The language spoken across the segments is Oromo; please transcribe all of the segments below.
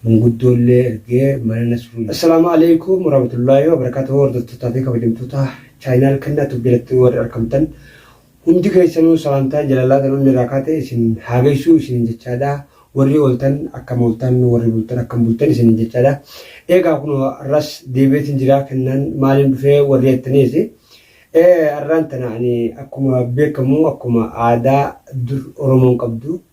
Manguddoo illee ergee mana Nasruu. Assalaamu Aleeykum Warahmatullaahi Wabarakaatuhu Hordoftootaa fi kabajamtoota Channel kennaa tube jalatti warri arkamtan hundi keessanuu salaamtaan jalalaa tan onni irraa kaate isin haa geessuu isinin jechaadha warri ooltan akkam ooltan warri bultan akkam bultan isinin jechaadha eegaa kun arras deebi'eetin jiraa kennaan maaliin dhufee warri jettaniis arraan tana ani akkuma beekamu akkuma aadaa dur Oromoon qabdu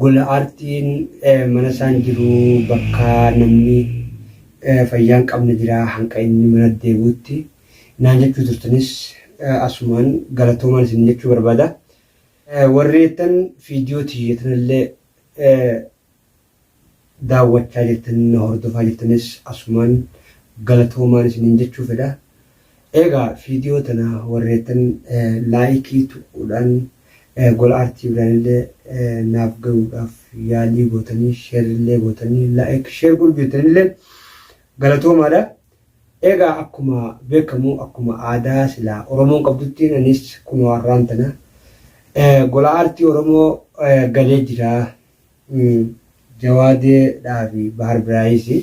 Gola aartiin mana isaan jiru bakka namni fayyaa hin qabne jira hanga inni mana deebi'utti naan jechuu turtanis asumaan galatoomaan isin jechuu barbaada. Warri jettan viidiyoo tiyya tanallee daawwachaa jirtan na hordofaa jirtanis asumaan galatoomaan isiniin jechuu fedha. Eegaa viidiyoo tana warreettan laayikii tuquudhaan gola aartii biraanillee naaf gayuudhaaf yaalii gootanii sheerrillee gootanii laayik sheer godhu jirtanillee galatoomaadha. Eegaa akkuma beekamu akkuma aadaa silaa Oromoon qabduttiin anis kunoo har'aan tana gola aartii Oromoo galee jira. Jawade dhaa fi bahar birayisi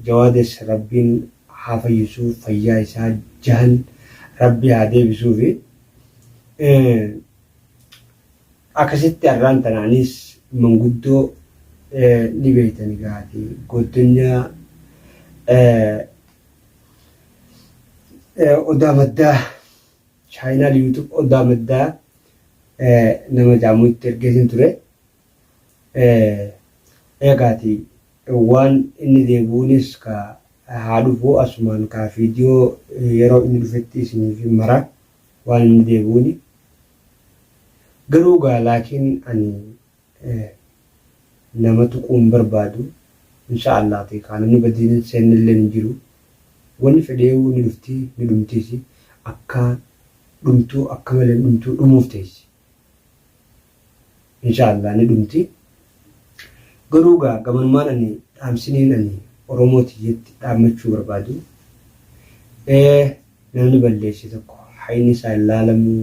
jawades rabbin haa fayyisu fayyaa isaa jahan rabbi haa debisufi akasitti arraan tana anis manguddo ni beytan egaa ati goddonya odaa maddaa. Channel YouTube Odaa Maddaa nama jaamu itti ergeetin ture. Eegaati waan inni deebi'uunis ka haa dhufu asumaan ka video yeroo inni dhufetti isiniif hin mara waan inni deebi'uuni. Garuu gaa laakiin ani nama tuquu hin barbaadu inshaa allaah teekaa namni badiin hin seennelleen hin jiru wanni fedheeyuu ni dhufti ni dhumtiisi akka dhumtuu akka maleen dhumtuu dhumuuf teessi inshaa allaah ni dhumti garuu gaa gamanumaan ani dhaamsiniin ani oromoo tiyyetti dhaammachuu barbaadu namni balleesse tokko hayni isaa hin laalamuu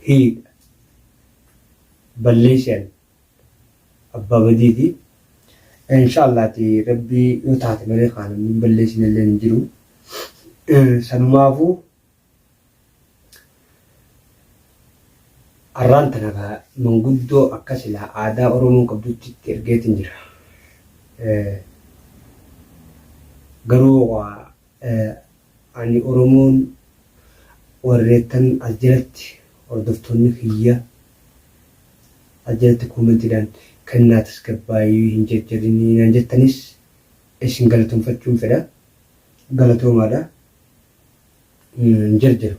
hiidha balleesian abbaa badiiti inshallah ati rabbi yoo taate malee kaa namni hin balleesine illeen hin jiru sanumaafu arraan tana kaa manguddoo akka silaa aadaa oromoon qabdutti itti ergeetin jira garuu waa Ani Oromoon warreettan as jalatti hordoftoonni kiyya as jalatti koomentiidhaan kan naa tasgabbaayii hin jarjarinii naan jettanis isin galatomfachuun fedha. Galatoomaadha. Hin jarjaru.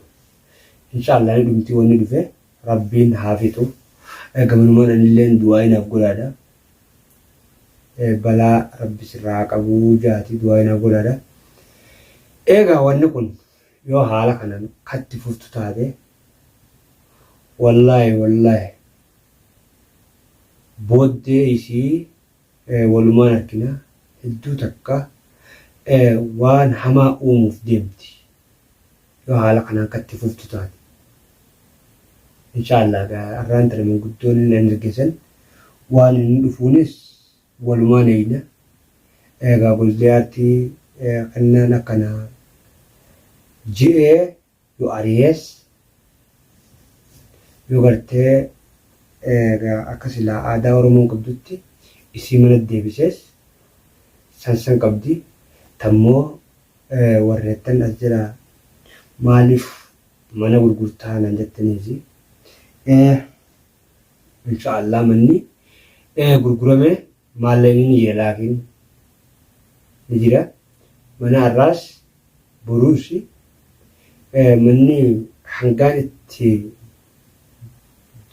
Inshaa Allah ni dhumti wanni dhufe Rabbiin haa fixu. Gamanumaan anilleen du'aa'ii naaf godhaadha. Balaa rabbi sirraa haa qabu jaati du'aayi naa godhaadha. Eegaa wanni kun yoo haala kanan katti fuftu taate wallaahi wallaahi booddee isii walumaan argina hedduu takka waan hamaa uumuuf deemti. Yoo haala kanaan kan itti fuftu taate. Inshaallah egaa arraan tana manguddoon hin ergesan waan inni dhufuunis walumaan eeyna. Egaa goldeyaatti kennaan akkana je'ee yoo ariyees yoo gartee egaa akka silaa aadaa Oromoon qabdutti isii mana deebisees san san qabdi. Tammoo warreettan as jala maaliif mana gurgurtaa naan jettaniisi ee insha allah manni ee gurgurame maallaqni ni jira laakiin ni jira mana har'aas boruus ee manni hangaan itti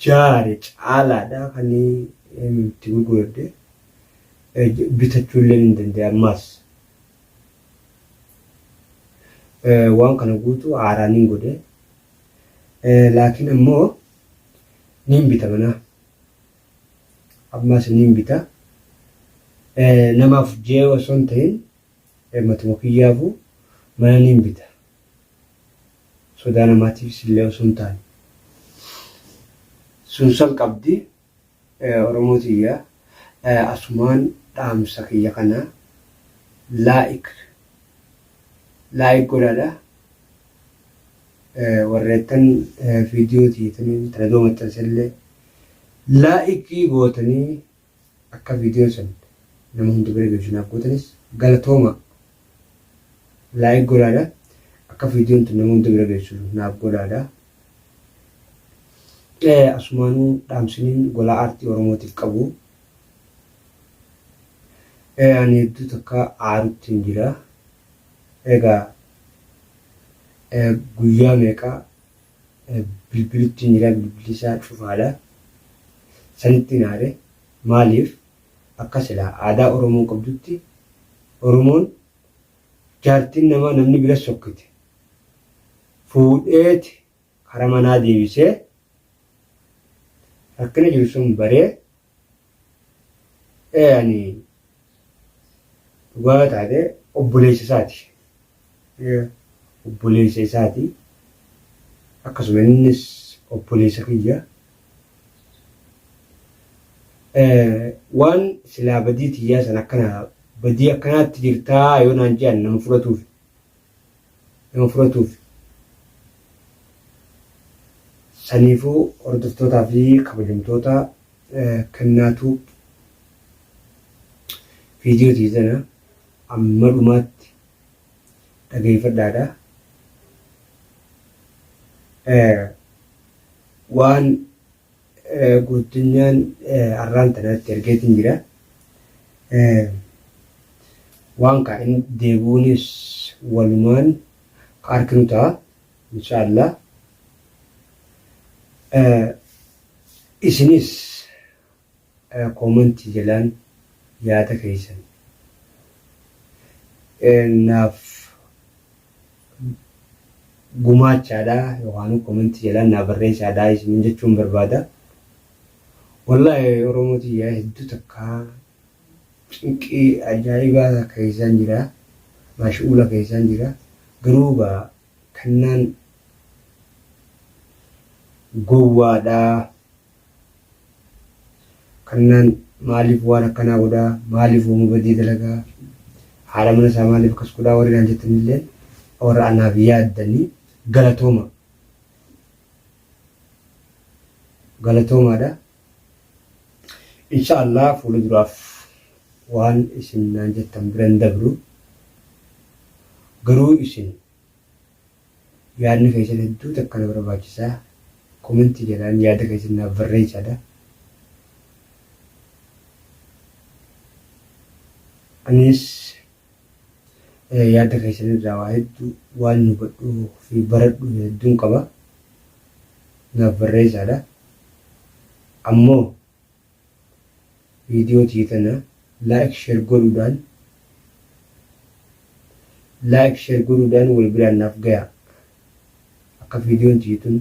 jaare caalaadha kan itti gurguradhe ee, bitachuullee ni danda'e ammaas waan kana guutuu haaraa nin godhe laakiin ammoo nin bita manaa ammaas nin bita namaaf jee osoo hin ta'in matuma kiyyaafu mana nin bita sodaa namaatiifis illee osoo hin taane sun san qabdi Oromoo tiyya asumaan dhaamsa kiyya kana like like godhaadha warreettan video tiyya taniin tana dura maxxansellee like gootanii akka video san nama hunda bira geessu naaf gootanis galatoomaa. Like godhaadha akka viidiyoon tun nama hunda bira geessu naaf godhaadha. Asumaanuu dhaamsiniin golaa aartii Oromootiif qabu ani hedduu takka aaruttiin jira. Egaa guyyaa meeqa bilbiluttiin jira bilbilli isaa cufaadha. Sanittiin aare maaliif? Akka silaa aadaa Oromoon qabdutti Oromoon jaartiin namaa namni bira sokkite fuudheeti kara manaa deebisee rakkina jiru sun baree ee ani dhugaa yoo taate obboleessa isaati. obboleessa isaati. Akkasuma innis obboleessa kiyya. Waan silaa badii tiyyaa san akkana badii akkanaatti jirtaa yoo naan jedhan nama fudhatuuf nama fudhatuuf saniifuu hordoftootaa fi kabajamtoota kennaatu viidiyoo tiizana amma dhumaatti dhageeffadhaa dha. Waan goottonyaan arraan tanaatti argeetiin jira. Waan kaa inni deebi'uunis walumaan ka arkinu ta'a. Insha Allah. Isinis Comment jalaan yaada keessan naaf gumaachaadha yookaan comment jalaan naa barreessaadha isiniin jechuun barbaada. Wallaahi Oromoo tiyya hedduu takka cinqii ajaa'ibaa keessaan jira. Maashu'uula keessaan jira. Garuu gaa kannaan gowwaadha. kannaan maaliif waan akkanaa godhaa maaliif uuma badii dalagaa haadha mana isaa maaliif akkas godhaa warri naan jettanillee warra anaaf yaaddanii galatooma galatoomaadha insha Allah fuula duraaf waan isin naan jettan biran dabru garuu isin Yaadni keessan hedduu takka na barbaachisa comment jalaan yaada keessan naaf barreessaa da. Anis yaada keessan irraa waa hedduu waan hubadhuu fi baradhu hedduun qaba naaf barreessaa da. Ammoo Video tiyya tana like sher godhudhan like sher godhudhan wal biraan naaf gayaa akka videon tiyya tun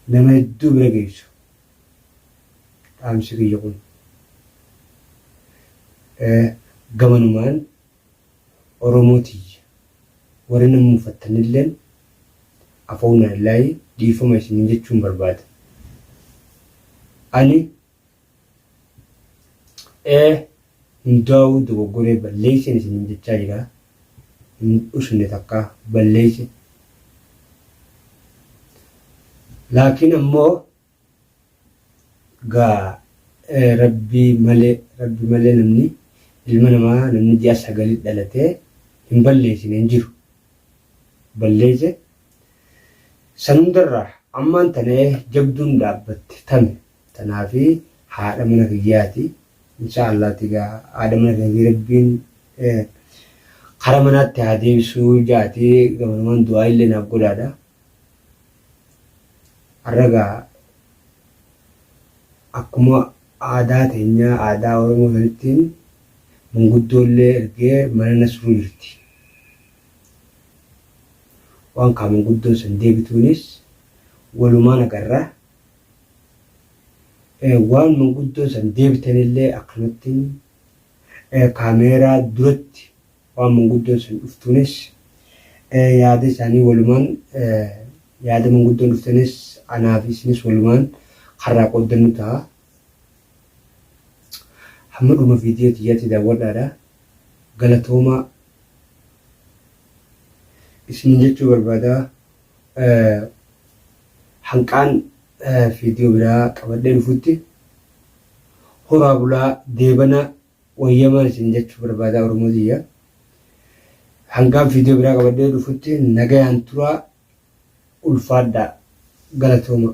nama hedduu bira geessu dhaamsi kiyya kun gamanumaan Oromoo tiyya warri na mufattanilleen Afawnaallaahi dhiifama isiniin jechuun barbaada. Ani A hundaawuu dogoggoree balleesseen isiniin jechaa jira. Hin dhusne takkaa balleesse. Laakiin ammoo Dhugaa rabbi male rabbi male namni ilma namaa namni ji'a sagali dhalate hin balleesine hin jiru balleese san hundarra ammaan tana jabduun dhaabbatte tame tanaafi haadha mana kiyyaati insha Allah tiga haadha mana kiyyaati rabbiin kara manaatti haa deebisuu jaati gamanumaan du'aa illee naaf godhaadha. Har'a egaa akkuma aadaa teenyaa aadaa Oromoo sanitti manguddoollee ergee mana nasruu jirti. Waan kaa manguddoon san deebituunis walumaan agarra. Waan manguddoon san deebitanillee akkanumattiin kaameeraa duratti Waan manguddoon sun dhuftuunis yaada isaanii walumaan yaada manguddoon dhuftanis anaa fi isinis walumaan karraa qooddannu ta'a. Hamma dhuma viidiyoo tiyyaatti daawwadhaadha. Galatoomaa isiniin jechuu barbaada. Hanqaan viidiyoo biraa qabadhee dhufutti horaa bulaa deebana. Wayyamaan isin jechuu barbaadaa oromoo tiyya. Hangaan viidiyoo biraa qabadhee dhufutti nagayaan turaa ulfaadhaa galatoomaa.